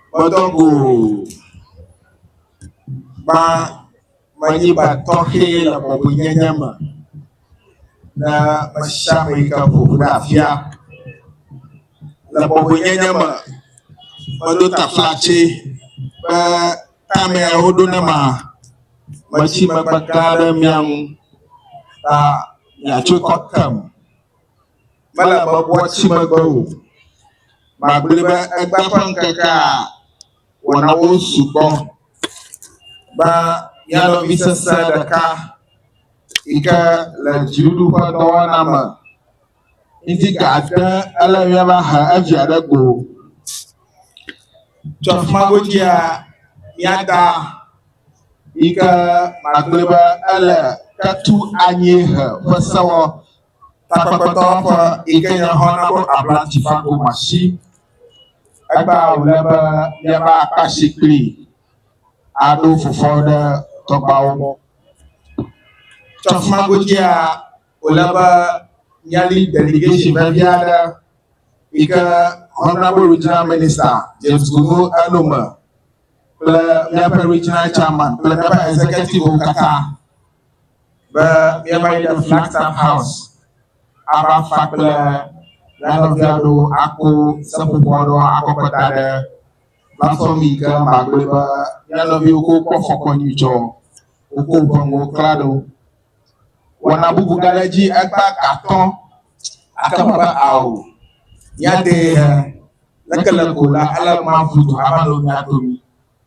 Kpɔtɔ ko ba manyiba tɔxɛ le bɔbɔnyenye me na mesiame yi ke ƒo ɖe afia. Le bɔbɔnyenye me, meɖo taflatse be tame woɖo ne ma metsi megbe gã ɖe mia ŋu ta miatso kɔ kem. mele bɔbɔa tsi megbe o. Magblɔe be egbe ƒe ŋkekea wɔnawo sugbɔ be mía nɔvi sesẽ ɖeka yi ke le dziɖuɖuƒe dɔwɔna me ŋdi gate ele mía va he evia ɖe go. Tso afi ma godzia mía da yi ke magblɔe be ele ketu anyiehe ƒe sewɔ Takpekpetɔ ƒe yi ke nye Honourable Abla Tshifa Komashi, egba wòle be míava akpa asi kplii aɖo fofo ɖe tɔgbawo gbɔ. Tso afi ma godzia, wòle be míali delegation vevi aɖe yi ke Honourable Regional Minister James Gunu eno me kple míaƒe Regional Chairman kple míaƒe Executivewo katã. be míava yi ɖe Flagstaff House ava fa kple mía nɔvia ɖo akpo seƒoƒo aɖewo akɔ kɔ da ɖe platform yi ke magblɔe be mía nɔviwo ko kpɔ fɔkɔ nyui tsɔ woko woƒe nuwo kla ɖo. Wɔna bubu gaɖe edzi ekpe gatɔ ake me be ao míadee he leke le ko la ele mavudo ava nɔ mía domi.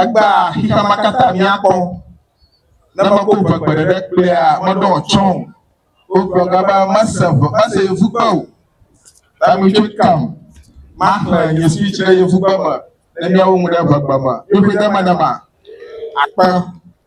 Egbea xexea ma katã míakpɔ. Ne mekɔ ʋu ƒe ɖeɖe kplea, meɖɔ tsɔ o. Wogblɔ ga be mese ʋu, mese yevugbe o. Tamitso kam, maxlẽ nye speech ɖe yevugbe me ne míawo ŋu ɖe ʋegbe me. Ƒuƒuidemenema. Akpe.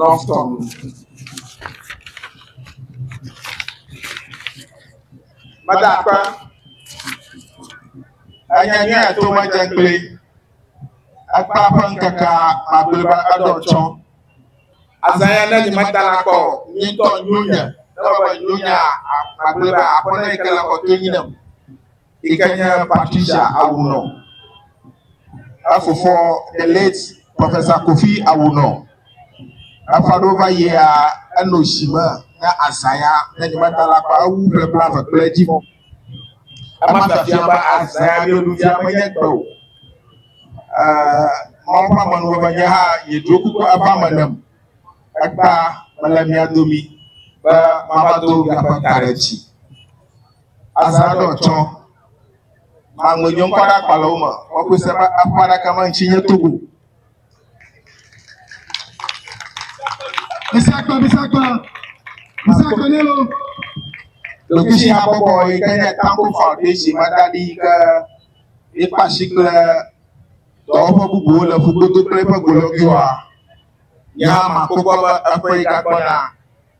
Love Tom. Madakpa. Anya nyuie ato madze kple ekpa ƒe ŋkeke magbeliba eɖɔ tsɔ. Azãya ne nyi mata la kpɔ nyitɔ nyuie ne wɔbe nyuie magbeliba aƒe ne yi ke le kɔtɔ nyi ne. yi ke nye Patricia Awuno, efofo the late Professor Kofi Awuno. Eƒe aɖewo va yia enɔ si me ne azã ya ne nyemeta la kpa ewu ƒe kple ave kple edzi. Ema fiafia be azã ya mieɖuvia menye gbe o. Mawu ƒe amenuveve be nye hã yedro kuku eva me nem. Ekpa mele mia domi be mava do miaƒe ta ɖe dzi. Azadɔ tsɔ maŋgbe nyɔ ŋkɔ ɖe akpalɔwo me wɔkpɔ se be aƒe aɖaka ma ŋtsi nye togo. Bisakpa bisakpa bisakpa ne lo. Lokishi habɔbɔ yi ke nye Tambo Foundation ma da ɖi ke ekpa si kple dɔwɔƒe bubuwo le ƒugodo kple eƒe golɔgiwoa. Nya ma kpɔkpɔ be eƒe yi gagbɔna.